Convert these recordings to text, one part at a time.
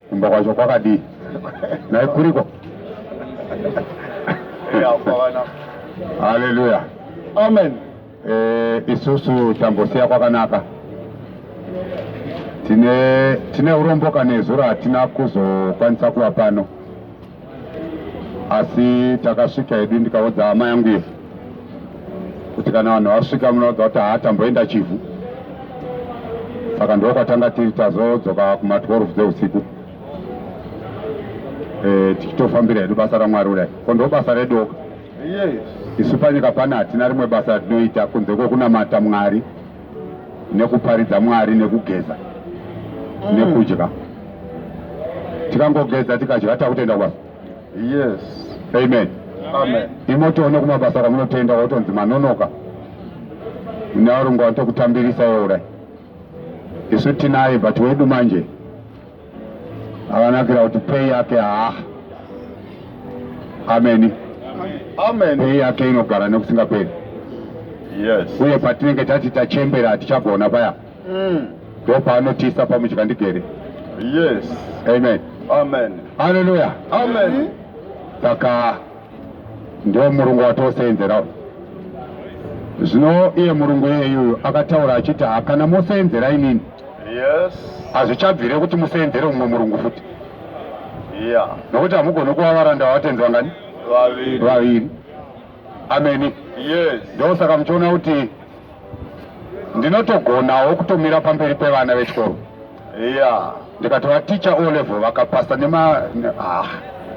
kumba kwacho kwakadii nai kuriko haleluya amen eh, isusu tambosiya kwakanaka tine tine urombo kanezuro hatina kuzokwanisa kuva pano asi takasvika hedu ndikaudza hama yangu iyo kuti kana vanhu vasvika munoudza kuti haatamboenda chivhu saka ndokwatanga tiri tazodzoka kuma 12 dzeusiku e, tichitofambira hedu basa ramwari kudai ko ndo basa redoka isu panyika pana hatina rimwe basa ratinoita kunze kwekunamata mwari nekuparidza Mwari nekugeza mm. nekudya tikangogeza tikadya takutenda kwasa yes amen amen imotoone kumabasa kwamunotenda kwakutonzi manonoka nevarungu vanotokutambirisa weura isu tinaye but wedu manje akanakira kuti pei yake haa ameni pei yake inogara nekusingaperi uye patinenge tati tachembera hatichagona paya mm. ndo paanotiisa pamudya ndigere amen aleluya saka ndo murungu watoseenzerawo zvino iye murungu iyeyuyu akataura achiti hakana moseenzera inini hazvichabvire kuti museenzere mumwe murungu futi nokuti hamugoni kuva varanda vavatenzi vangani vaviri ameni ndosaka muchiona kuti ndinotogonawo kutomira pamberi pevana vechikoro ndikati vaticha o level vakapasa nema ah,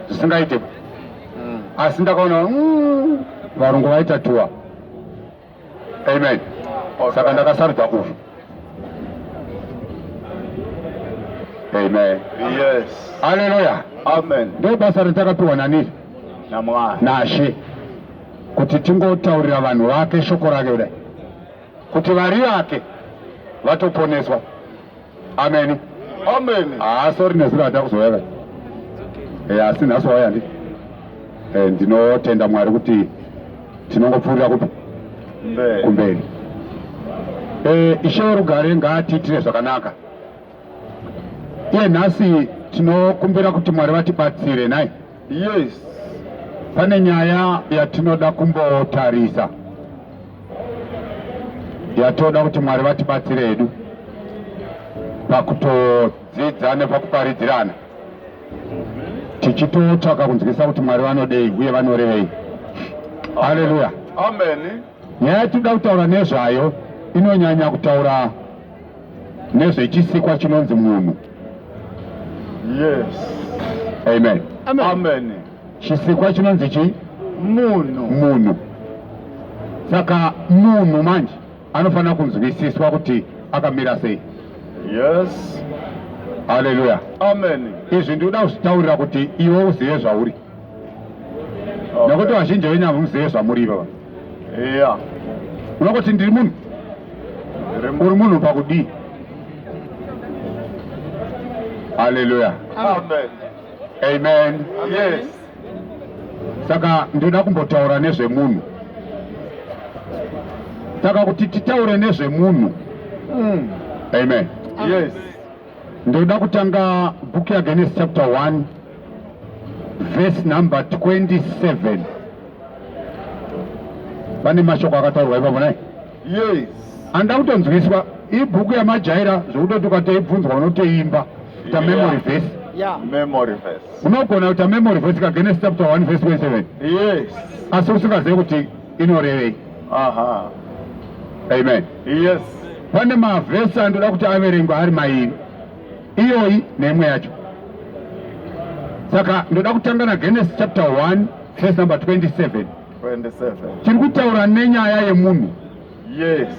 zvisingaite mm. asi ndakaona mm, varungu vaita tuwa amen saka ndakasarudza uyu amen yes haleluya amen ndo basa ratakapiwa nani namwari nashe kuti tingotaurira vanhu vake shoko rake kudai kuti vari vake vatoponeswa Amen. Amen. Ah, sorry nezuro hata kuzouya ka. Eh, asi nhasi wauya ndi. Eh, ndinotenda Mwari kuti tinongopfuurira kupi? Mberi. Kumberi. Eh, ishe werugare ngaatiitire zvakanaka. Iye nhasi tinokumbira kuti Mwari vatibatsire nhai. Yes, pane nyaya yatinoda kumbotarisa yatoda kuti Mwari vatibatsire hedu pakutodzidza nepakuparidzirana tichitotsvaka kunzwisisa kuti Mwari vanodei uye vanorevei. Haleluya, amen. Nyaya yatinoda kutaura nezvayo inonyanya kutaura nezvechisikwa chinonzi munhu yes amen amen, amen. chisikwa chinonzi chii munhu munhu saka munhu manje anofanira kunzwisiswa kuti akamira sei yes haleluya amen izvi ndikuda kuzvitaurira kuti iwe uzive zvauri nokuti vazhinji venyu hamuzive zvamuri ivava eya unokuti ndiri munhu uri munhu pakudii haleluya amen amen yes saka ndinoda kumbotaura nezvemunhu saka kuti titaure nezvemunhu mm. amen yes Ndoda kutanga book ya Genesis chapter 1 verse number 27. Pane mashoko akataurwa ipapo nai? Yes. Anda kutonzwiswa ibhuku yamajaira zvokutoti ukateibvunzwa unoteimba ta memory verse. Yeah. Memory verse. Unogona kuita memory verse ka Genesis chapter 1 verse 27. Yes. Asi usingazivi kuti inorevei. Aha. Amen. Yes, pane mavhesi andoda kuti averengwa ari mairi, iyoyi neimwe yacho. Saka ndoda kutanga naGenesis chapter 1 verse number 27. 27. Tiri kutaura nenyaya yemunhu. Yes.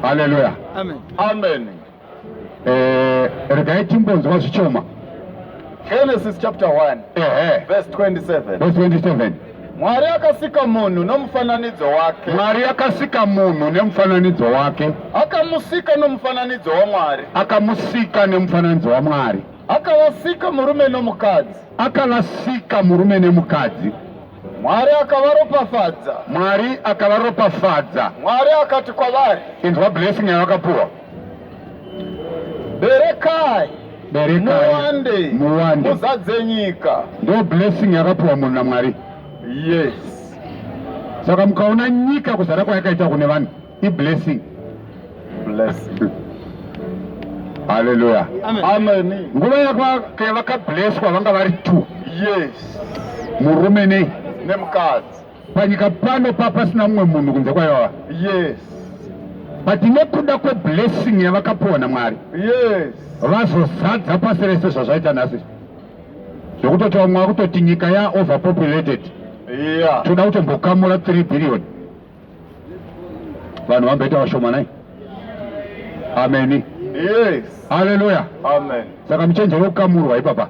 Hallelujah. Amen. Amen. Eh, regai timbonzwa zvichoma Genesis chapter 1 ehe verse 27. verse 27 Mwari akasika munhu nomufananidzo wake. mwari akasika munhu nemufananidzo wake Akamusika nomufananidzo waMwari. akamusika nemufananidzo wamwari Akavasika murume nomukadzi. akavasika murume nemukadzi Mwari akavaropafadza. mwari akavaropafadza Mwari akati kwavari, inzwa blessing yavakapuwa berekai muwande muzadze nyika ndo blessing yakapiwa munhu namwari yes saka mukaona nyika kuzara kwayakaita kune vanhu iblessing blessing haleluya amen nguva yakavakablesswa vanga vari two yes murume nei nemukadzi panyika pano papasina mumwe munhu kunze kwayoa yes but nekuda kweblessing yavakapiwa namwari yes vazozadza pasi rese zvazvaita nhasi zvekutoti vamwe vakutoti nyika yaoverpopulated yeah. toda kutombokamura 3 billion vanhu vamboita vashomanai ameni yes. haleluya saka muchenjero kukamurwa ipapa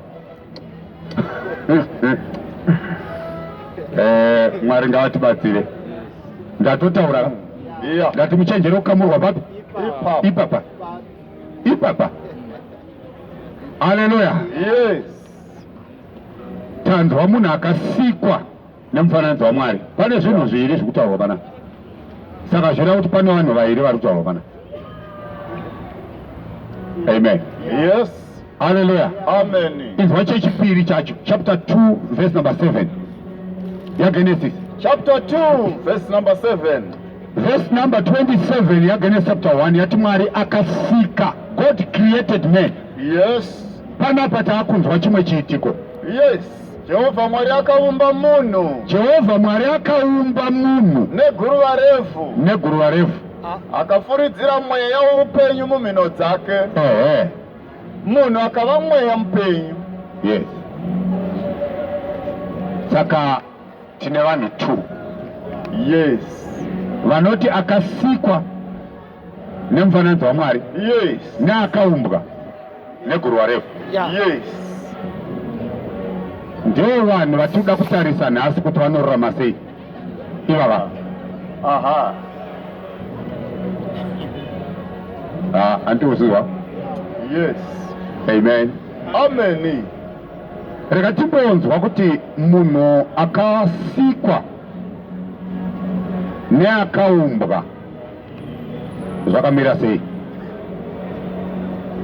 eh, mwari ngavatibatsire ndatotaura ndati muchenjere kukamurwa papi ipapa ipapa haleluya tanzwa munhu akasikwa nemufananidzo waMwari. Pane zvinhu zviviri zviri kutaurwa pana, saka zvireva kuti pane vanhu vairi vari kutaurwa pana. Amen. Yes. Hallelujah. Amen. Inzwa chechipiri chacho chapter 2 verse number 7 yaGenesis. Chapter 2 verse number 7. Verse number 27 yaGenesis chapter 1 yati Mwari akasika. God created man. Yes. Panapa taakunzwa chimwe chiitiko. Yes. Jehovha Mwari akaumba munhu. Jehovha Mwari akaumba munhu neguruva refu. Neguruva refu. Akafuridzira mweya woupenyu mumhino dzake. Ehe. Munhu akava mweya mupenyu. Yes. Saka tine vanhu two. Yes. Vanoti akasikwa nemufananidzo waMwari yes. neakaumbwa neguruva refu yeah. yes. ndiwo vanhu vatinoda kutarisa nhasi kuti vanorurama sei ivava aha ah, andiuziwa yes amen amen rega timbonzwa kuti munhu akasikwa neakaumbwa zvakamira sei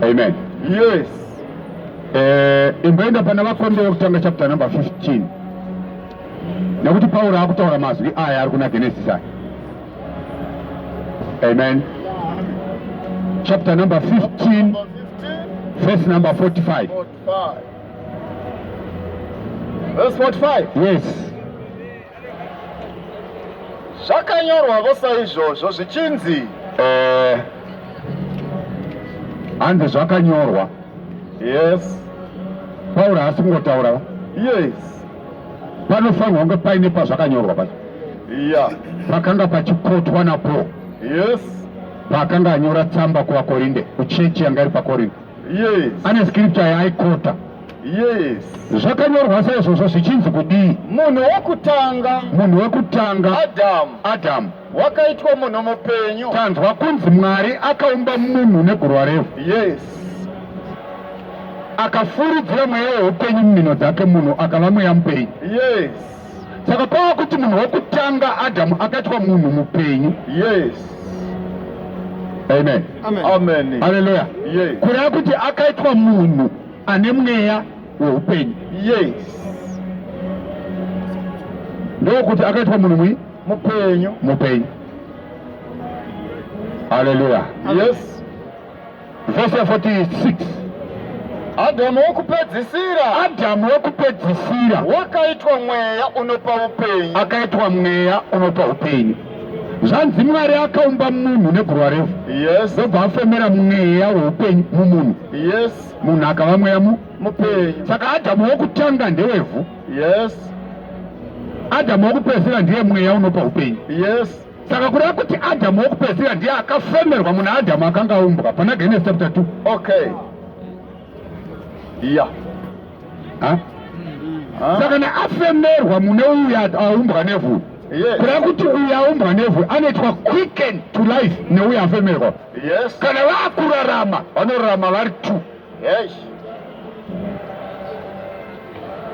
amen yes eh imboenda pana vakombe vekutanga chapter number 15 nekuti pauro akutaura mazwi aya ari kuna genesis aya amen chapter number 15 verse number 45 verse 45 yes zvakanyorwavo saizvozvo zvichinzi eh, hanzi zvakanyorwa yes pauro haasi kungotaura yes panofanirwa kunge paine pazvakanyorwa pa yeah. pakanga pachikotwa napo yes pakanga anyora tsamba kuvakorinde kuchechi yanga iri pakorinde yes. ane scripture yaaikota yes. zvakanyorwa saizvozvo zvichinzi kudii munhu wekutanga munhu wekutanga adamu adamu wakaitwa munhu mupenyu tanzwa kunzi mwari akaumba munhu negurwa revhu yes akafuridzira mweya weupenyu mumhino dzake munhu akava mweya mupenyu yes saka pava kuti munhu wekutanga adamu akaitwa munhu mupenyu yes amen amen haleluya yes. kureva kuti akaitwa munhu ane mweya weupenyu yes ndokuti akaitwa munhu mwi mupenyu mupenyu haleluya yes Verse 46. Adhamu wokupedzisira. Adhamu wokupedzisira. Wakaitwa mweya unopa upenyu. Akaitwa mweya unopa upenyu. Zvanzi Mwari akaumba munhu neguruva refu. Yes. Ndobva afemera mweya weupenyu mumunhu. Yes. Munhu akava mweya mu mupenyu. Saka Adhamu wokutanga ndewevhu. Yes. Adhamu wokupedzisira ndiye mweya unopa upenyu. Yes. saka kureva kuti adhamu wokupedzisira ndiye akafemerwa muna adhamu akanga aumbwa pana genes chapter 2 okay iya yeah. saka naafemerwa mune uyu aumbwa nevhu kureva kuti uyu aumbwa nevhu anoitwa quicken to life neuyo afemerwa yes. kana vakurarama vanorarama vari two Yes.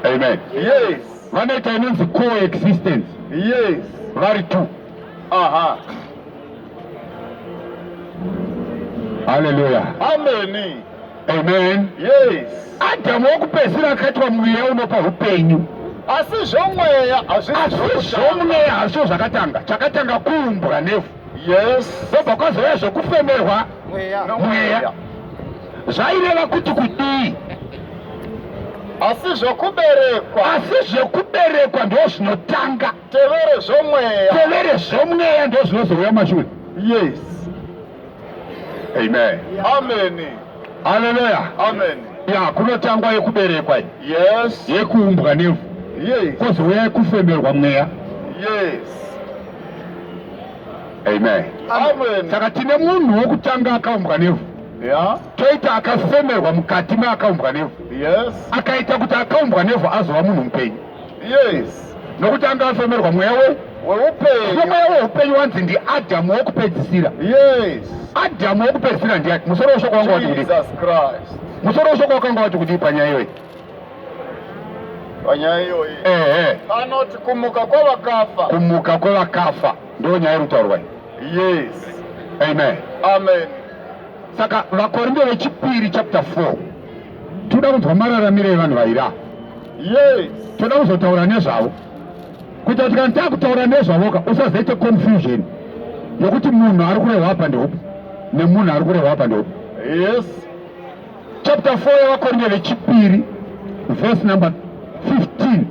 Amen. Yes. Vanoita inonzi coexistence. Yes. Vari two. Aha. Hallelujah. Amen. Amen. Yes. Adamu wokupedzisira akaitwa mweya unopa upenyu. Asi zvomweya hazvisi zvomweya hazvo zvakatanga. Chakatanga kuumbwa nevhu. ndobva kwazouya zvekufemerwa mweya zvaireva kuti kudii asi zvokuberekwa asi zvokuberekwa ndo zvinotanga tevere zvomweya tevere zvomweya ndo zvinozouya mashure yes amen amen haleluya amen ya kunotangwa yekuberekwa yes yekuumbwa nevhu yes kozouya yekufemerwa mweya yes Amen. Amen. Saka tine munhu wokutanga akaumbwa nevhu yeah. toita akafemerwa mukati meakaumbwa nevhu yes. akaita kuti akaumbwa nevhu azova munhu mupenyu yes. nokuti anga afemerwa mweya we weupenyu mweya weupenyu wanzi ndiadhamu wokupedzisira yes. adhamu wokupedzisira ndiani musoro weshoko wanga wati kudii musoro weshoko wakanga wati kudii panyaya iyoyi panyaya iyoyi ehe anoti kumuka kwavakafa kumuka kwevakafa ndiyo nyaya iri kutaurwa iyi yes amen amen saka vakorinde vechipiri chapter 4 toda kunzwa mararamiro evanhu vaira yes toda kuzotaura nezvavo kuita kuti kana takutaura nezvavoka usazoite confusion yokuti munhu ari kurehwa apa ndeupi nemunhu ari kurehwa apa ndeupi yes chapter 4 yevakorinde vechipiri verse number 15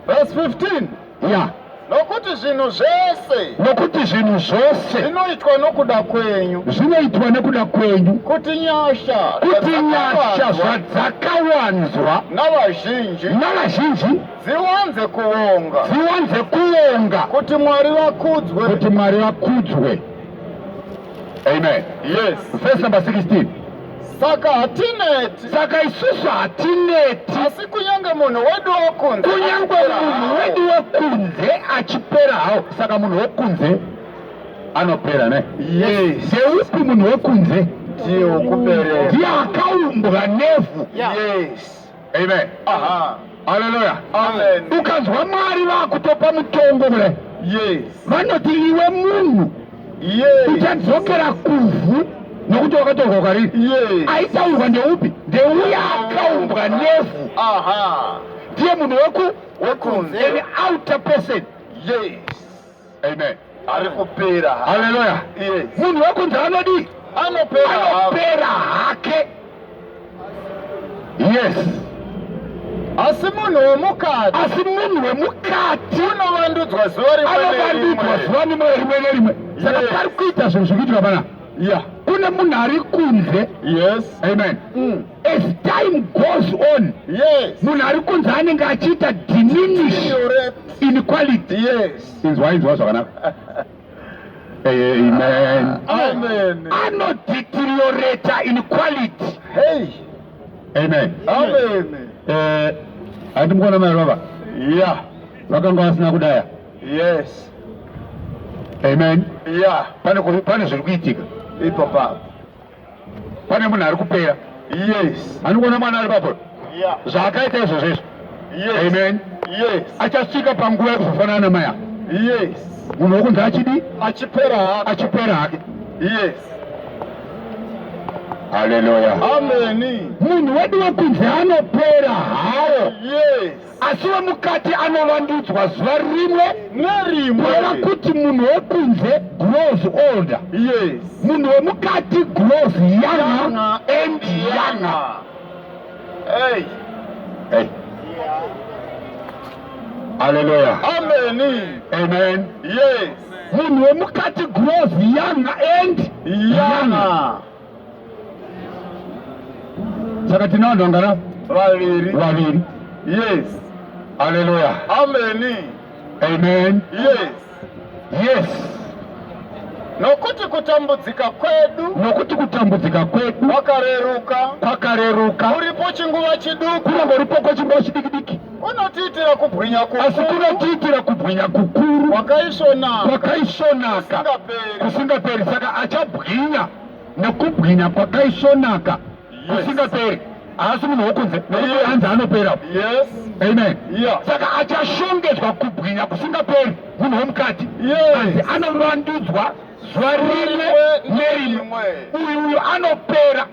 verse 15 ya yeah. nokuti zvinhu zvese nokuti zvinhu zvose zvinoitwa nokuda kwenyu zvinoitwa nekuda kwenyu kuti nyasha kuti nyasha zvadzakawanzwa navazhinji navazhinji dziwanze kuonga dziwanze kuonga kuti mwari vakudzwe kuti mwari vakudzwe amen yes verse number 16 saka hatineti saka isusu hatineti asi kunyange munhu wedu wokunze kunyange munhu wedu wokunze achipera hawo saka munhu wokunze anopera ne yes yeupi munhu wokunze ndiye wokupera ndiye akaumbwa nevhu yes Amen. Aha. Hallelujah. Amen. Ukanzwa Mwari vakutopa mutongo kule. Yes. Vanoti iwe munhu. Yes. Uchadzokera kuvhu nokuti wakatorwa kwari. Yes. Aitaurwa ndeupi? Ndeuya akaumbwa nevhu. Aha. Ndiye munhu weku wekunze. An outer person. Yes. Amen. Ari kupera. Hallelujah. Yes. Munhu wekunze anodii? Anopera. Anopera hake. Yes. Asi munhu wemukati. Asi munhu wemukati. Unovandudzwa zuva rimwe nerimwe. Anovandudzwa zuva rimwe nerimwe. Saka pari kuita zvinhu zvikuitwa pana. Yeah. Kune munhu ari kunze. Yes. Amen. Mm. As time goes on, yes. munhu ari kunzi anenge achiita diminish inequality. Yes. Inzwa inzwa zvakanaka. Amen. Amen. Ano deteriorate inequality. Hey. Amen. Amen. Eh, ati mukona mai baba? Yeah. Vakanga vasina kudaya. Yes. Amen. Yeah. Pane pane zviri kuitika. Ipo pa. pane munhu ari kupera yes anikuona mwana ari papo yeah. zvaakaita izvozvo izvo yes. amen yes. achasvika panguva yekuzofanana namai ako yes. munhu wokunzi achidi achipera achipera hake yes haleluya ameni munhu wedu wekunzi anopera hawo yes asi wemukati anovandudzwa zuva rimwe nerimwe kureva kuti munhu wekunze grows older yes. munhu wemukati grows younger and younger hey. hey. Hallelujah. Amen. Amen. Yes. Munhu wemukati grows younger and younger. younger. saka tine vanhu vangana vaviri vaviri yes haleluya ameni amen yes yes nokuti kutambudzika kwedu nokuti kutambudzika kwedu kwakareruka kwakareruka uripo chinguva chiduku kunenge uripo kwechinguva chidikidiki Unotiitira kubwinya kukuru. Asi kunotiitira kubwinya kukuru. Kwakaisvonaka. Kwakaisvonaka. Kusingaperi. Saka achabwinya nekubwinya kwakaisvonaka. Kusingaperi. Haasi munhu wokunze. Nekuti hanzi anopera. Yes. Amen. Yeah. Saka achashongedzwa kubwinya kusingaperi munhu womukati. Yes. Hanzi anovandudzwa zuva rimwe nerimwe. Uyu uyu anopera.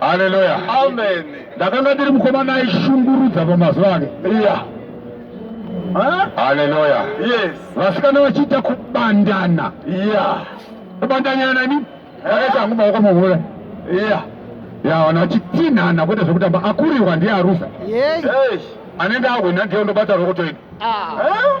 Haleluya. Amen. Ndakanga ndiri mukomana aishungurudza pamazuva ake. Yeah. Huh? Haleluya. Yes. Vasikana vachiita kubandana. Yeah. Kubandanya nani? Akaita hangu maoko muhure. Yeah. Ya wana vachitsinhana kwete zvekutamba akurirwa ndiye arusa. Yes. Anenge ahwina ndiye ndobata rokotoini. Ah. Huh?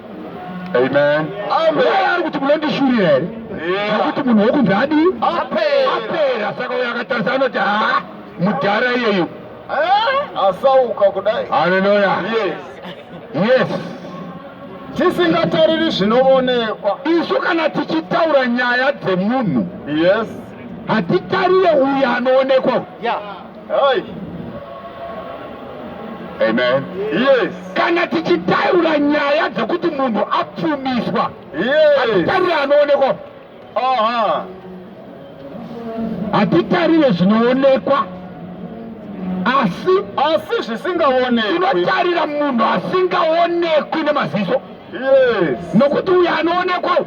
Amen. Amen. Ari kuti munondishurira here? Nekuti munhu wokunzi adi apera, saka uyo akatarisa anoti ha mudhara iyeyu eh? asauka kudai. Haleluya. Yes. Yes. Tisingatariri zvinoonekwa. Isu kana tichitaura nyaya dzemunhu. Yes. Hatitarire uyo anoonekwa. Yeah. Hai. Amen. Yes. Kana tichitaura nyaya dzekuti munhu apfumiswa. Yes. Hatitarire anoonekwa. Aha. Hatitarire zvinoonekwa. Asi asi zvisingaonekwi. Tinotarira munhu asingaonekwi nemaziso. Yes. Nokuti uyu anoonekwa.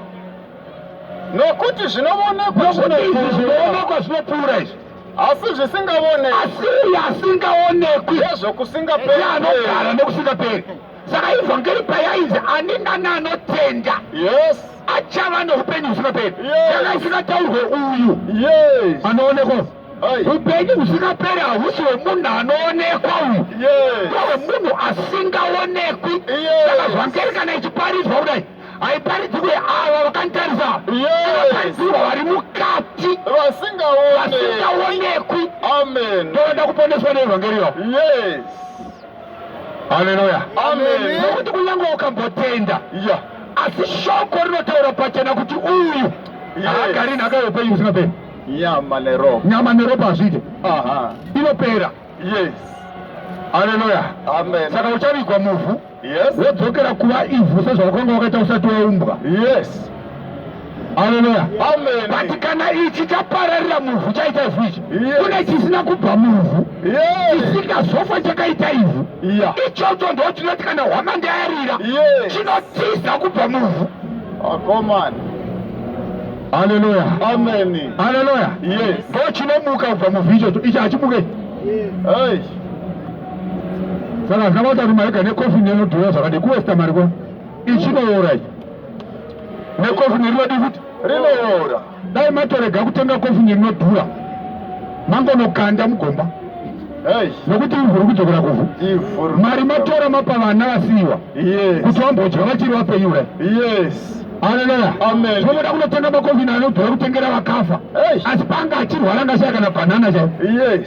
Nokuti zvinoonekwa zvinoonekwa zvinopfuura izvi. asi zvisingavonekwi asi uyo asingaonekwi nezvokusingaperi anogara nekusingaperi saka ivhangeri payainzi ani nani anotenda yes achava neupenyu husingaperi yanga isingataurwe uyu yes anoonekwa upenyu husingaperi hahusi hwemunhu anoonekwa uyu hwemunhu asingaonekwi saka zvangeri kana ichiparidzwa kudai haiparidzi kuye ava vakanditarisa vaparidzirwa vari mukati vasingaonekwi ndoda kuponeswa neevhangeriyo haleluya nokuti kunyange ukambotenda asi shoko rinotaura pachena kuti uyu haagari nhaka yeupenyu usingaperi nyama neropa nyama neropa hazviite inopera yes haleluya amen saka uchavigwa muvhu Yes. Wodzokera kuva ivhu sezvawakanga wakaita usati waumbwa. Yes. Haleluya. Amen. But kana ichi chapararira muvhu chaita ivhu ichi. Yes. Kune chisina kubva muvhu. Yes. Chisingazofa chakaita ivhu. Yeah. Ichocho ndo chinoti kana hwama ndayarira. Yes. Chinotiza kubva muvhu. Akomana. Ah, Haleluya. Amen. Haleluya. Yes. Ndo chinomuka kubva muvhu ichocho. Ichi hachimuke. Yes. Hey. saka hazina kuita kuti mari gane coffin inodhura zvakadii kuwesta mari kwa ichinoora ichi necoffin rinodii futi rinoora dai matorega kutenga coffin rinodhura mangonokanda mugomba nokuti ivhu ri kudzokera kuvhu mari matora mapa vana vasiyiwa kuti vambodya vachiri vapenyu ura haleluya tinoda kunotenga makovhini anodhura kutengera vakafa asi panga achirwara ngashaya kana bhanana chai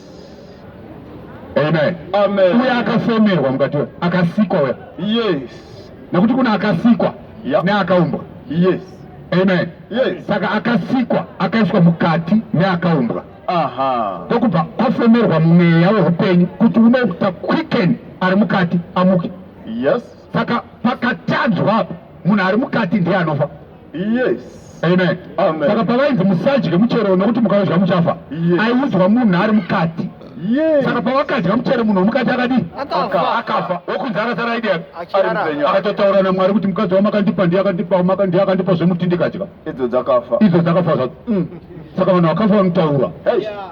Amen. Amen. Uye akafomerwa mukati we akasikwa we. Yes. Nekuti kuna akasikwa yep. neakaumbwa. Yes. Amen. Yes. Saka akasikwa akaiswa mukati neakaumbwa. Aha. Ndokubva kwafomerwa mweya weupenyu kuti unoita quicken ari mukati amuke. Yes. Saka pakatadzwa apa munhu ari mukati ndiye anofa. Yes. Amen. Amen. Saka pavainzi musadye muchero nokuti mukaudya muchafa. Yes. Aiudzwa munhu ari mukati. Yes. Saka pavakadya muchero munhu womukati akadii? Akafa. Akafa. Wokunzi akasara aidi yake. Achirara. Akatotaura naMwari kuti mukadzi wamakandipa ndiye akandipa wamaka ndiye akandipa zvemuti ndikadya. Idzo dzakafa. Idzo dzakafa zvadzo. Mm. Saka vanhu vakafa vanotaura. Hey. Yeah.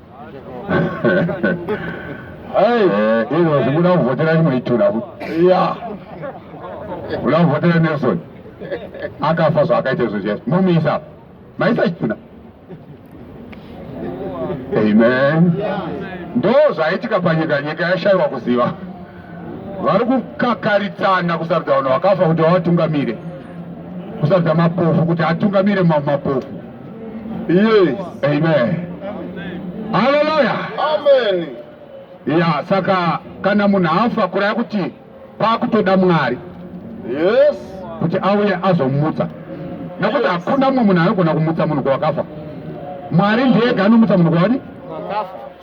Hey, izvo zvinguda kuvhotera rimwe itura. Yeah. Uda kuvhotera Nelson. Akafa zvaakaita izvo zviyazvo. Mumisa. Maisa chituna. Amen. Ndo zvaitika panyika nyika yashaiwa kuziva. Vari kukakaritsana kusarudza vanhu vakafa kuti vawatungamire. Kusarudza mapofu kuti atungamire mapofu. Yes. Amen. Hallelujah. Amen. Ya, saka kana munhu afa kuraya kuti pakutoda Mwari. Yes. Kuti auye azomutsa. Nekuti hakuna mumwe munhu anogona kumutsa munhu kwakafa. Mwari ndiye anomutsa munhu kwadi.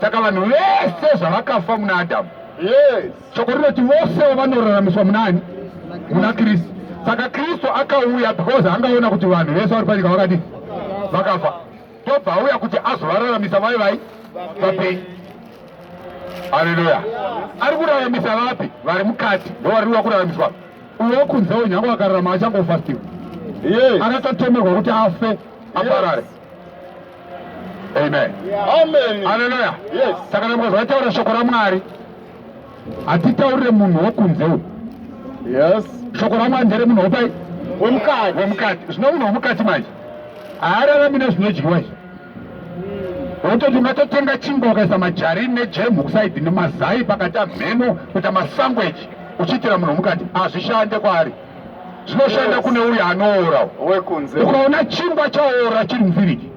Saka vanhu vese zvavakafa muna Adamu. Yes. Shoko rinoti vosewo vanoraramiswa munani? Muna Kristu. Saka Kristu akauya because angaona kuti vanhu vese vari panyika vakadii? Vakafa. Tobva auya kuti azovararamisa vai vai vapenyu. Haleluya. Ari kuraramisa vapi? Vari mukati. Ndovari kuda kuraramiswa. Uyo kunzewo nyange akararama achangofa still. Yes. Akatotemerwa kuti afe aparare. Yes. Amen. Amen. Hallelujah. Yes. Saka kana mukazvataura shoko raMwari hatitaurire munhu wokunze uyu. Yes. Shoko raMwari ndere munhu wopai? Wemukati. Wemukati. Zvino munhu womukati manje haararami nezvinodyiwa izvi. Wototi matotenga chingwa ukaisa majarini nejemu kusaidhi nemazai pakati amheno kuita masangueji uchiitira munhu womukati hazvishande kwaari. zvinoshanda kune uyo anoora wekunze ukaona chingwa chaora chiri muvhiriji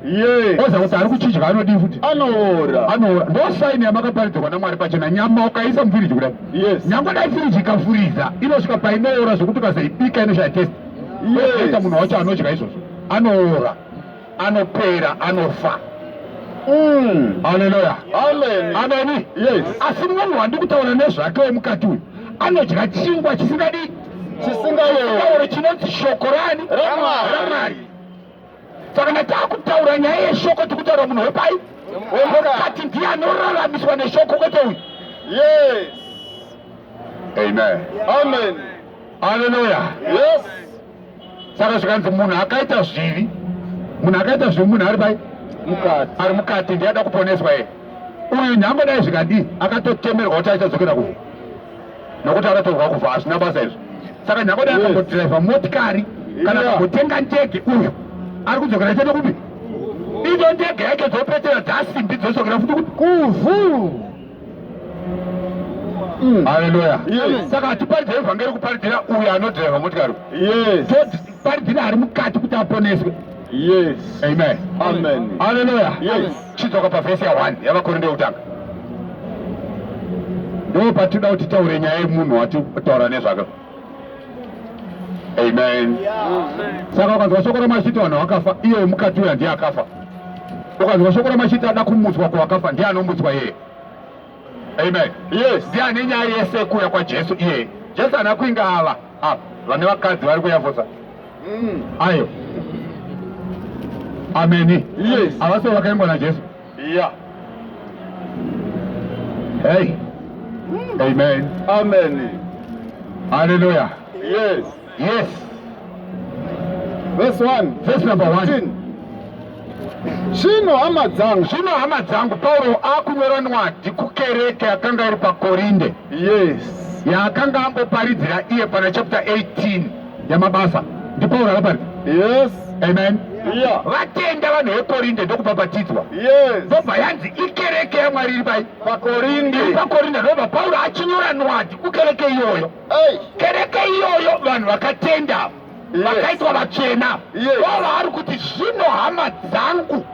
oza kuti ari kuchidya anodii futi anoora anoora ndo saini yamakaparidzirwa namwari pachena nyama ukaisa muvhiriji kudai nyangwe dai firiji ikafuriza inosvika painoora zvekuti ukazoibika inoshaya testi oita munhu wacho anodya izvozvo anoora anopera anofa mm. haleluya ameni yes. asi munhu wandi kutaura nezvake wemukati uyu anodya chingwa chisingadii chisingaore chinonzi shoko rani ramwari saka na taakutaura nyaya yeshoko tikutaura munhu wepai wemukati ndiye anoraramiswa neshoko kwete uyu yes amen amen haleluya yes saka zvikanzi munhu akaita zvivi munhu akaita zvivi munhu ari pai mukati ari mukati ndiye ada kuponeswa ye uyu nhambo dai zvikadii akatotemerwa kuti aichadzokera kuvo nokuti akatorwa kuva hazvina basa izvo saka nhambo dai akambodhiraivha motikari kana akambotenga ndege uyu ari kudzokera chete kupi ido ndege yake dzopetera dzasimbi dzosokera futi kuti kuvhu Mm. haleluya saka hatiparidzira evhangeri kuparidzira uyo anodhireva motikari paridzira ari mukati kuti aponeswe haleluya chidzoka pavhesi ya1 yavakorinde yekutanga ndo patinoda kuti taure nyaya yemunhu watitaura nezvake Amen. Saka ukanzwa shoko ramashita vanhu vakafa, iye wemukati uya ndiye akafa. Ukanzwa shoko ramashita ada kumutswa kwawakafa, ndiye anomutswa yeye. Amen. Yes. Ndiye ane nyaya yese yekuuya kwaJesu iye. Jesu ana kuinga ava apa vane vakadzi vari kuyavosa mm. ayo ameni yes. avasio vakaimbwa naJesu Yeah. Hey. Amen. Amen. Hallelujah. Yes. Yes. Verse 1. Verse number 1. Zvino hama dzangu, zvino hama dzangu, Pauro akunyora nwadhi kukereke yakanga iri paKorinde. Yes. Yaakanga angoparidzira iye pana chapter 18. yamabasa ndipauro akaparidza yes amen yeah. vatenda vanhu vekorinde ndokubhabhatidzwa yes. ndobva yanzi ikereke yamwari iri pai pakorinde iri pakorinde ndobva pauro achinyora nwadi kukereke iyoyo hey. kereke iyoyo vanhu vakatenda vakaitwa yes. vachena vo yes. vaari kuti zvino hama dzangu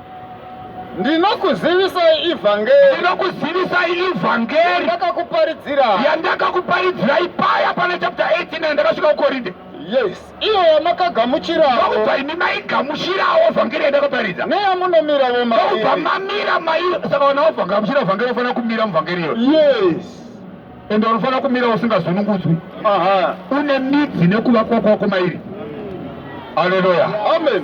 ndinokuzivisai ivhangeri ndinokuzivisai ivhangeri ndakakuparidzira yandakakuparidzirai paya pana chapter 18 yandakasvika kukorinde yes iyo yamakagamuchiraokubva imi maigamuchirawo vhangeri yandakaparidza neyamunomiravo maokubva mamira mai saka vana vavhagamuchira vhangeri unofanira kumira muvhangeri iyo yes ende unofanira kumira usingazunungudzwi une midzi nekuva kwako kwako mairi aleluya amen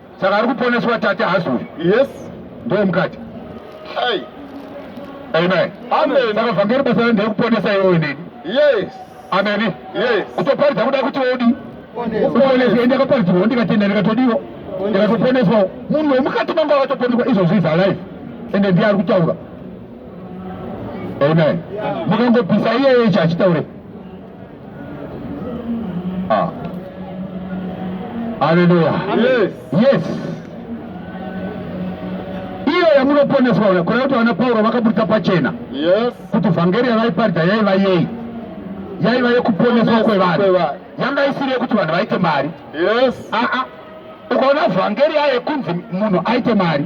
Saka ari kuponeswa tate hasi uyu. Yes. Ndiye mukati. Hey. Amen. Amen. Saka vhangeri basa randiri kuponesa iwe nini? Yes. Amen. Yes. Kutoparidza kuda kuti odi. Kuponeswa ndakaparidzwa ndikatenda ndikatodiwa. Ndikatoponeswa. Munhu wemukati mangu akatoponeswa izvozvi is alive. Ende ndiye ari kutaura. Amen. Mukangopisa iye ichi achitaure. Ah. Haleluya. Yes. Yes. Iyo yamunoponeswa uya kuna kuti vana Pauro vakaburitsa pachena. Yes. Kuti vhangeri yavaiparidza yaiva yei? Yaiva yekuponeswa kwevanhu. Yanga isiri yekuti vanhu vaite mari. Yes. Ah ah. Ukaona vhangeri yaye kunzi munhu aite mari.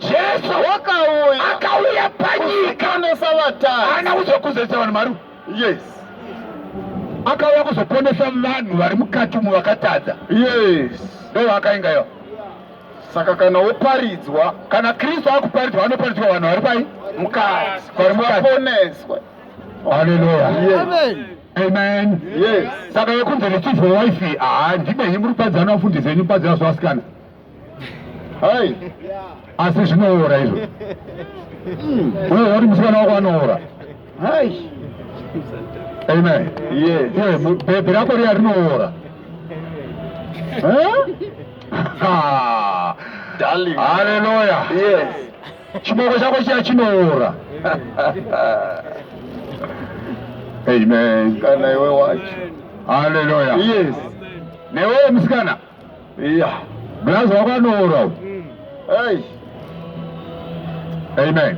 Jesu wakauya akauya panyika kuponesa vatadzi. Haana kuzokuzetsa vanhu maru. Yes. Akauya kuzoponesa vanhu vari mukati umu vakatadza. Yes. Ndo vakainga yo. Saka kana woparidzwa, kana Kristu akuparidzwa anoparidzwa vanhu vari pai? Mukati. Vari mukati. Vaponeswe. Hallelujah. Yes. Amen. Amen. Yes. Saka yekunze nechizvo wife, ah ndibe himuri padza na fundi zenyu padza zvasikana. hai asi zvinoora izvo uye wati musikana wako anoora hai amen bhebhi rako riya rinoora haleluya chiboko chako chiya chinoora amen kana iwe wacho haleluya yes newewo musikana Iya, mlazi wakanoora. Mm. Hey. Amen.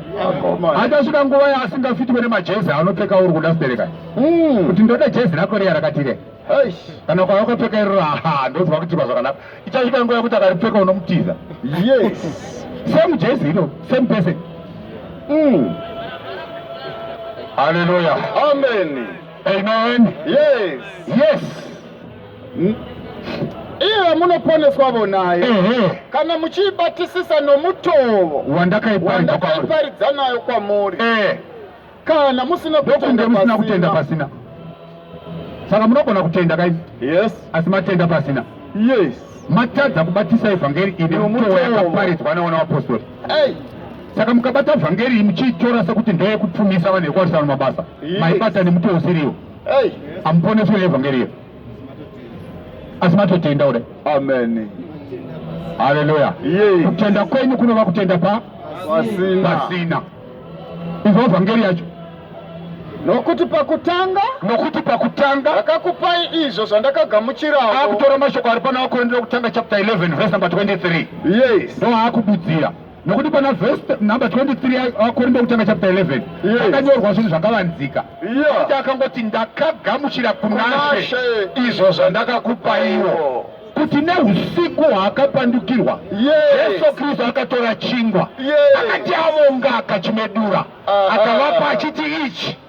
Achasvika nguva yaasingafitwe nemajezi anopfeka uri kuda stereka. Mm. Kuti ndoda jezi rako riya rakatire. Hey. Kana kwa wakapfeka iro aha ndozwa kuti kwa zvakanaka. Ichasvika nguva yekuti akaripfeka unomutiza. Yes. Same jezi iro, same person. Mm. Hallelujah. Amen. Amen. Yes. Yes. hmm? iye munoponeswa vonaye kana muchiibatisisa nomutovo wandakaiparidza nayo kwamuri eh. kana musina kutenda pasina saka munogona kutenda kai yes asi matenda pasina yes matadza kubatisa evhangeri ine mutovo yakaparidzwa naona vapostori saka mukabata vhangeri muchiitora sekuti ndoyekupfumisa vanhu yekuwarisana mabasa maibata nemuti usiriwo Amuponeswe neevhangeri iri. Asi matotenda kudai. Amen. Haleluya. Kutenda kwenyu kunova kutenda pa pasina. Izvo vhangeri yacho. Nokuti pakutanga nokuti pakutanga ndakakupai izvo zvandakagamuchirawo. Akutora mashoko ari pana Vakorintho wekutanga chapter 11 verse number 23. Yes. Ndoakududzira. nokuti pana vhesi number 23 akorinto kutanga chapter 11 akanyorwa zvinhu zvakavanzika kuti akangoti ndakagamuchira kunashe izvo zvandakakupaiwo kuti neusiku hwaakapandukirwa jesu kristu akatora chingwa akati avonga akachimedura ah, ah, akavapa ah. achiti ichi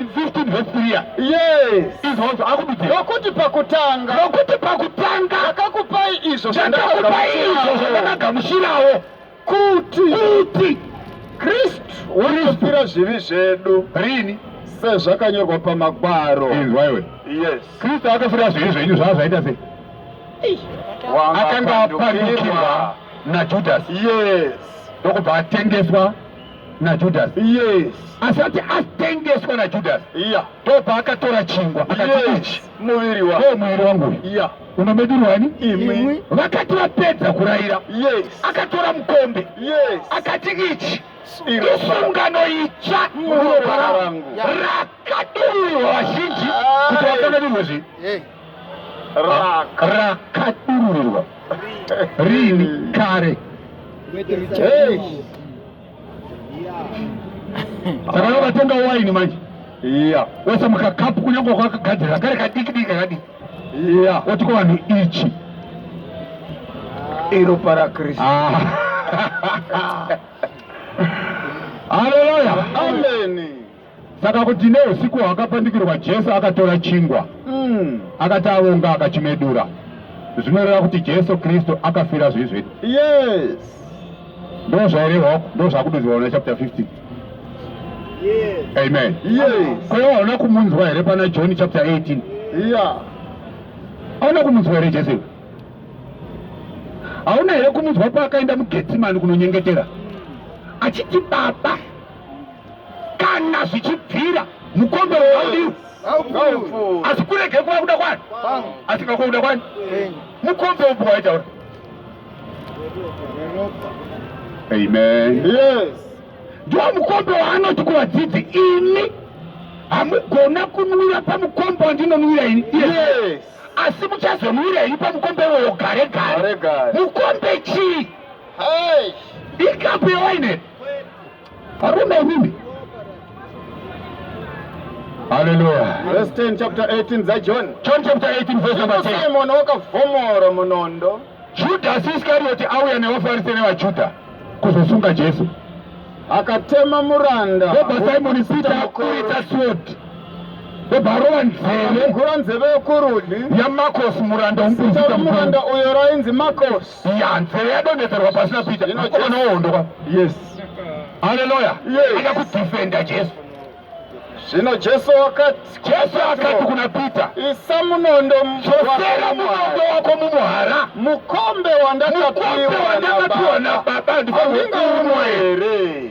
15 verse 3 ya yes izvozvo akududzi nokuti pakutanga nokuti pakutanga ndakakupai izvo ndakakupai izvo zvandakagamuchirawo kuti kuti kristu unofira zvivi zvedu rini sezvakanyorwa pamagwaro izwaiwe yes kristu akafira zvivi zvenyu zvaa zvaita sei akanga apanikirwa najudhasi yes ndokubva atengeswa naJudasi yes. asati atengeswa naJudasi yeah. ndo paakatora chingwa yes. muviri wa oh, muviri wangu yeah. unomedirwani imwi vakati vapedza kurayira yes. akatora mukombe yes. akati ichi isungano itsva muropa rangu rakadururwa vazhinji ah, kuti vakanganirwe zvi rakadururirwa rini kare saka vatenga waini manje iya wese mukakapu kunyange kwakagadzirira kare kadiki diki kakadiki iya woti kuvanhu ichi iro para kristu ah. haleluya ameni Saka kuti neusiku hwakapandukirwa Jesu akatora chingwa mm. akati avonga akachimedura zvinoreva kuti Jesu Kristu akafira zvizvi yes. Ndo zvairehwa ndo zvakududzirwa na chapter 15 yes. Amen yes. Kwa hiyo hauna kumunzwa here pana John chapter 18 yeah. Hauna kumunzwa here Jesu hauna here kumunzwa paakaenda muGetsemani kunonyengetera achiti baba kana zvichibvira mukombe wewandiwo asi kurege kuva kuda kwani asi kakwa kuda kwani mukombe upo waitaura amen yes ndiwo mukombe waanoti kuvadzidzi imi hamugona kunwira pamukombe wandinonwira ini yes asi muchazonwira ini pamukombe iwoyo gare gare mukombe chii ikapu yewaineri Varume imimi. Hallelujah. Verse 10 chapter 18 za John. John chapter 18 verse number 10. Simon wakavhomora munondo. Judas Iscariot auya nevaFarise nevaJuda kuzosunga Jesu. Akatema muranda. Baba Simon Peter akuita sword. Baba nzeve. Gura nzeve yokurudyi. YaMarcos muranda umpinzita muranda uyo rainzi Marcos. ya nzeve yadonhedzerwa pasi napeter mukomana wohondoka yes haleluya ida kudhifenda jesu zvino jesu wakati jesu akati kuna peter isa munondo chosera munondo wako mumuhara mukombe wandakapiwa nababa ndingaumwa here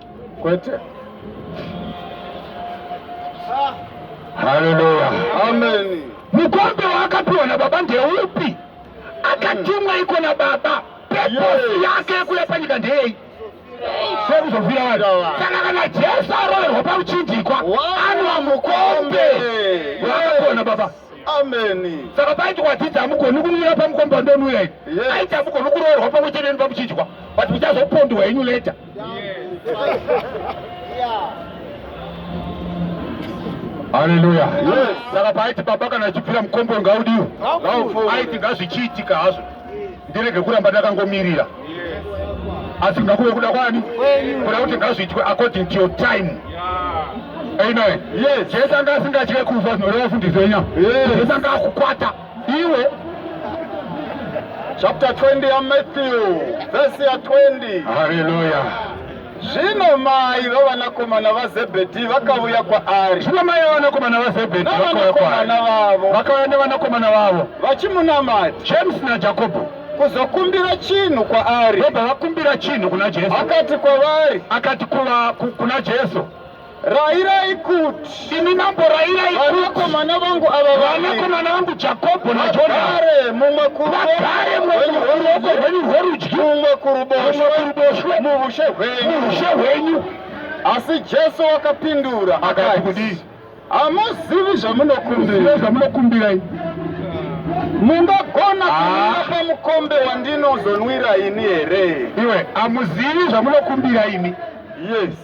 Kwete. Haleluya. Amen. Mukombe waakapiwa na baba ndeupi? Akatumwa iko na baba. Purpose yake yekuya panyika ndeyei? sekuzovira vanhu saka kana jesu aroverwa pakuchindikwa anwa mukombe wakakona baba ameni saka paiti kwadzidzi hamugoni kumira pamukombe wandonwira ini aiti hamugoni kuroverwa pamwe chete neni pamuchinjwa but muchazopondwa henyu leta Haleluya. Yes. Saka paiti baba kana achipfira mukombo ngaudiwe. Aiti ngazvichiitika hazvo. Ndirege kuramba ndakangomirira. Asi ngakuve kuda kwani? Kuda kuti ngazviitwe according to your time. Amen. Yes. Jesu anga asingatye kufa zvinoreva fundiso yenyama. Jesu anga akukwata. Iwe chapter 20 yaMatthew vhesi ya 20. Haleluya. Zvino mai vavanakomana vaZebhedhi vakavuya kwaari. Zvino mai vavanakomana vaZebhedhi vakauya kwaari. vavo. Vakauya nevanakomana vavo. Vachimunamata. James naJakobo. Kuzokumbira chinhu kwaari. Vobva vakumbira chinhu kuna Jesu. Akati kwavari. Akati kuva kuna Jesu. Rairai kuti imi mambo, rairai kuti vanakomana vangu ava, vanakomana vangu Jakobho naJodhani, mumwe kuruoko rwenyu rworudyi, mumwe kuruboshwe, muushe hwenyu. Asi Jesu wakapindura akati, kudii? Hamuzivi zvamunokumbira, zvamunokumbira mungagona ah. kuipa mukombe wandinozonwira ini here? Iwe hamuzivi zvamunokumbira ini. Yes.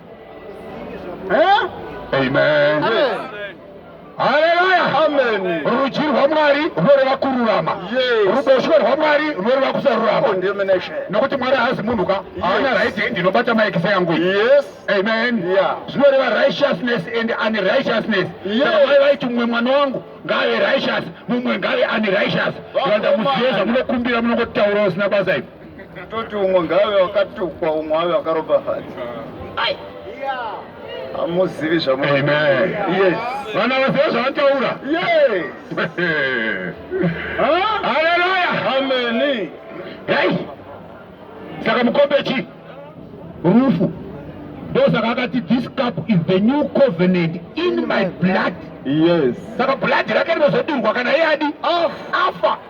eh? Amen. Amen. Haleluya. Amen. Rudyi rwaMwari runoreva kururama. Yes. Ruboshwe rwaMwari runoreva kusarurama. Condemnation. Nokuti Mwari haazi munhu ka. Haana right hand inobata maekisa yangu. Yes. Amen. Yeah. Zvinoreva righteousness and unrighteousness. Yes. Saka mai vaiti mumwe mwana wangu ngave righteous, mumwe ngave unrighteous. Vanda muziye zvamunokumbira munongotaura usina basa ipo. Toti umwe ngaave wakatukwa umwe ave wakaropafadza. Ai. Hamuzivi zvamu. Amen. Yes. Vana vaziva zvavataura. Yes. Huh? Hallelujah. Amen. Hey. Saka mukombe chi? Rufu. ndosaka akati this cup is the new covenant in my blood yes saka blood rake rinozodirwa kana iye adi afa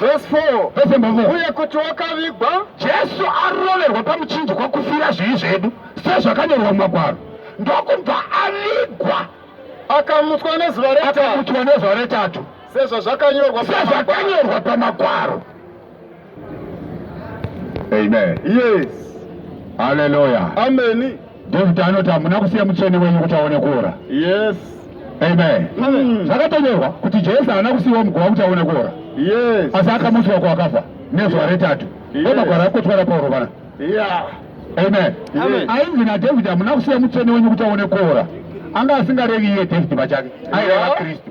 Verse 4. Verse 4. Uye kuti wakavigwa. Jesu aroverwa pamuchinjikwa kufira zvivi zvedu sezvakanyorwa mumagwaro ndokubva avigwa akamutswa nezuva retatu sezvazvakanyorwa pamagwaro Amen. Yes. Hallelujah. Amen. David anoti hamuna kusiya mutsvene wenyu kuti aone kuora. Yes. Amen. Mm. Zvakatonyorwa kuti Jesu haana kusiyiwa muguva kuti aone kuora. Yes. Asi akamutswa kwakafa nezuva retatu. Yes. Magwara akotwara Pauro vana. Yeah. Amen. Amen. Ainzi naDavid hamuna kusiya mutsvene wenyu kuti aone kuora. Anga asingarevi iye David pachake. Aireva Kristu.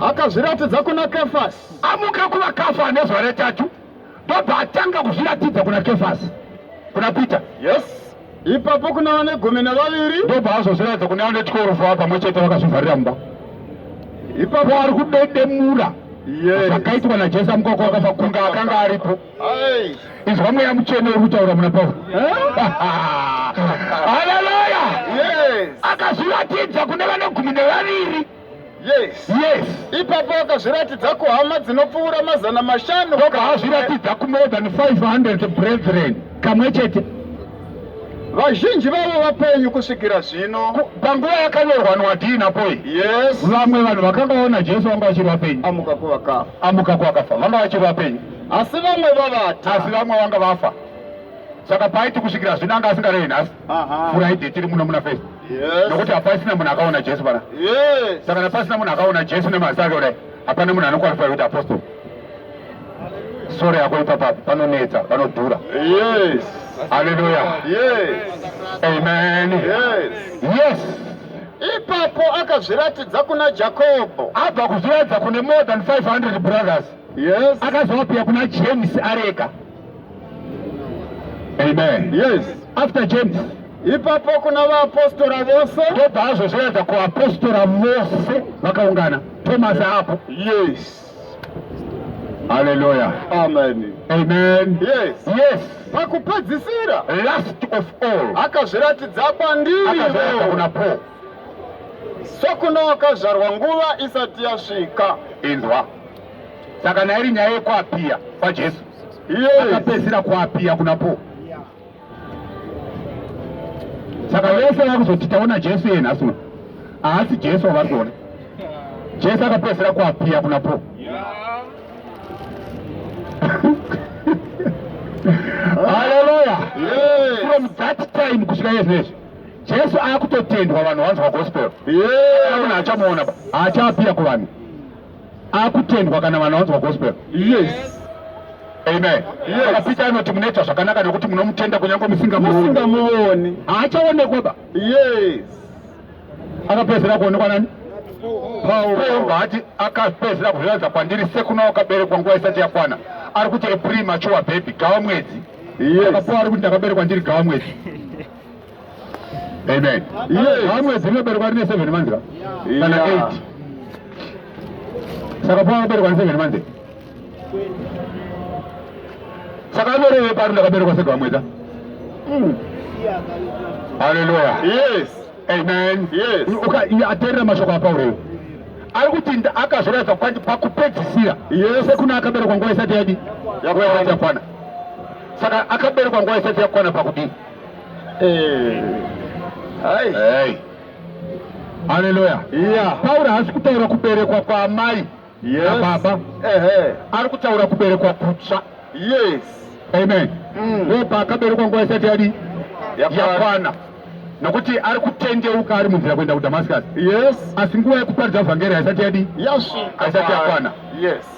akazviratidza kuna kefasi amuka kuvakafa ane zuva retatu ndobva atanga kuzviratidza kuna kefasi kuna peter yes ipapo kuna vane gumi nevaviri ndobva azozviratidza kune vane twelve ava pamwe chete vakazvivharira mumba ipapo ari kudedemura zvakaitwa najesu amukoko wakafa kunga akanga aripo izwa mweya mutsvene uri kutaura muna pauro haleluya akazviratidza kune vane gumi nevaviri yes yes ipapo akazviratidza kuhama dzinopfuura mazana mashanu oka azviratidza kumore than 500 brethren kamwe chete vazhinji vavo vapenyu kusvikira zvino panguva yakanyorwa nwadii napoi yes vamwe vanhu vakanga vaona jesu vanga vachiri vapenyu amuka kuvakafa amuka kuvakafa vanga vachiri vapenyu asi vamwe vavata asi vamwe vanga vafa saka paiti kusvikira zvino anga asingarevi nhasi furaide tiri muno muna fest nokuti hapasina munhu akaona jesu pana saka napasina munhu akaona jesu nemaziso ake kudai hapana munhu anokwalifai kuti apostol soro yako ipapapi panonetsa panodhura haleluya amen yes ipapo akazviratidza kuna jakobho abva kuzviratidza kune more than 500 brothers Yes. Akazoapia kuna James areka. Amen. Yes. After James. Ipapo kuna vaapostora vose. Tobva azozviratidza kuapostora vose vakaungana. Thomas apo. Yes. Hallelujah. Amen. Amen. Yes. Yes. Pakupedzisira. Last of all. Akazviratidza kwandiri. Akazviratidza kuna Paul. sokune wakazvarwa nguva isati yasvika inzwa saka nairi nyaya yekuapiya kwajesu akapedzisira kuapiya kuna po saka vese vakuzoti taona jesu iye nhasi uno haasi jesu wavari kuona jesu akapedzisira kuapiya kuna po haleluya from that time kusvika iye zvinezvi Jesu akutotendwa vanhu vanzwa gospel. Yeah. Una achamuona ba. Achapia ku vanhu. Akutendwa kana vanhu vanzwa gospel. Yes. Amen. Yes. Akapita anoti munoita zvakanaka nekuti munomutenda kunyange musingamuoni. Musingamuoni. Achaonekwa ba. Yes. Akapedzera kuonekwa nani? Pauro hati akapedzera kuzviratidza kwandiri sekuna wakaberekwa nguva isati yakwana. Ari kuti a premature baby gawa mwedzi. Yes. Akapuwa ari kuti ndakaberekwa ndiri gawa mwedzi. Amen. Yes. Mwedzi inoberekwa rine 7 months kana 8. Saka pava kuberekwa ne 7 months. Saka aberewe pari ndakaberekwa sega mwedza. Mm. Hallelujah. Yes. Amen. Yes. Uka aterera mashoko aPauro. Ari kuti akazviratidza kwandi pakupedzisira. Yes. Sekuna akaberekwa nguva isati yadi. Yakwana. Saka akaberekwa nguva isati yakwana pakudii? Haleluya. Yeah. Pauro haasi kutaura kuberekwa kwaamai nababa. Ari kutaura kuberekwa kutsva. Yes. Amen. Mm. Wepa mm. akaberekwa nguva isati yadi yakwana nokuti ari kutendeuka ari munzira kuenda kudamascus yes. asi nguva yekuparidza vhangeri haisati yadi yes. haisati yakwana yes.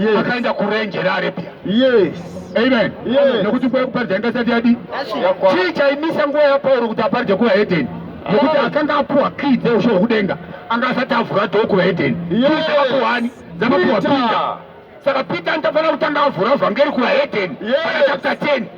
yes. akaenda kurenje rearabia yes. amen yes. nokuti nguva yekuparidza inga sati yadi chii chaimisa nguva yapauro kuti aparidze kuvahedheni nokuti ah. akanga apuwa kii dzeusho hwekudenga anga asati avhura dho kuvahedheni kuani dzakapuwa pita saka pita nditafanira kutanga avhura vhangeri kuvahedheni yes. chapter 10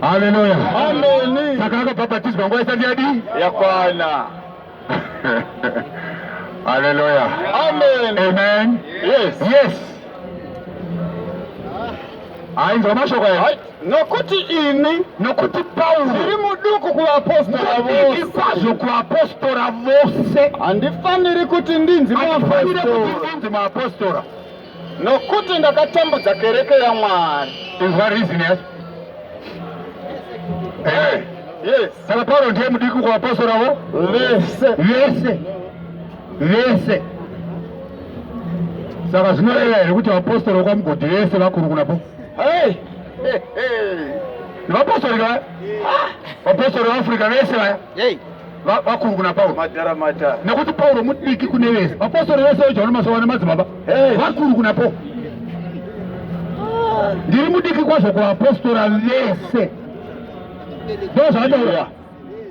Haleluya. Amen. Saka akabhabhatidzwa nguva isati yadii? Yakwana. Haleluya. Amen. Amen. Yes. Yes. Ainzwa mashoko aya. Nokuti ini nokuti Paulo ndiri muduku kuvapostora vose. Kwazvo kuvapostora vose. Handifaniri kuti ndinzi muapostora. Handifaniri kuti ndinzi muapostora. Nokuti ndakatambudza kereke yaMwari. Inzwa reason yacho. Eh. Yes. Saka Pauro ndiye mudiki kwa apostle avo? Vese. Vese. Vese. Saka zvinoreva here kuti apostle kwa mugodi vese vakuru kuna po? Hey. Hey. Hey. Vapostle ka? Vapostle wa Afrika vese vaya. Hey. vakuru kuna pauro madhara madhara nekuti pauro mudiki kune vese vapostori vese vejohani masowa nemadzibaba vakuru kuna pauro ndiri mudiki kwazvo kuvapostora vese ndo zvataura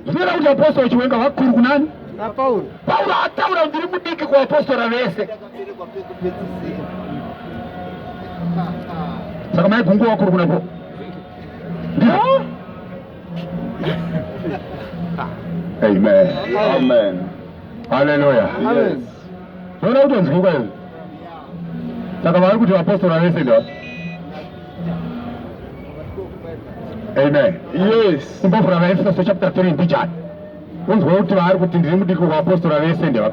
zvinoita kuti vapostori chiwenga vakuru kunani pauro ataura kuti ndiri mudiki kuvapostora vese saka maigunguwa vakuru kuna pauro Amen. Amen. Hallelujah. Yes. Unaona watu wanazunguka hivi. Saka wale kuti apostoli wese ndio. Amen. Yes. Mbofu na Efeso chapter 3 ndichani. Unzwa kuti vari kuti ndiri mudiki kwa apostoli wese ndio.